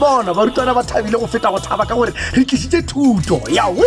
bona barutwana ba thabile go feta go thaba ka gore re tlisitse thuto ya we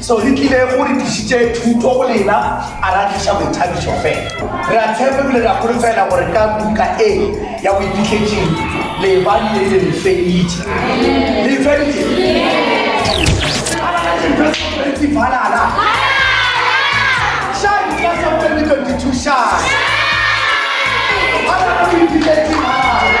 So re tlile go re tlišitše thuto go lena, a ra tliša boithabišo fela. Re a tshepa ebile re a holofela gore ka buka e ya boiphihletsing le ba le le feditše. Le feditše? Ga ba na dintho tse pedi balala. Shine ka sa 2022 shine. Ga ba na boiphihletsing balala.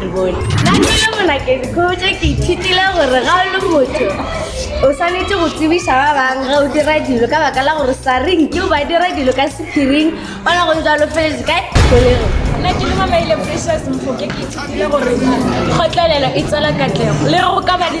re bone nna ke le monakedi kgotsa ke ithutile gore ga o le motho o swanetse go tsebiša ba bangwe ga o dira dilo ka baka la gore sa reng ke o ba dira dilo ka sephiring o na go ntse a lofeletse kae kolego nna ke le mamaile precious mfoke ke ithutile gore kgotlelelo e tswela katlego le go ka ba le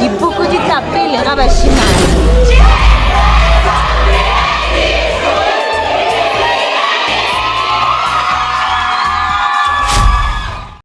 Dipuku di tla pele ga bašimane.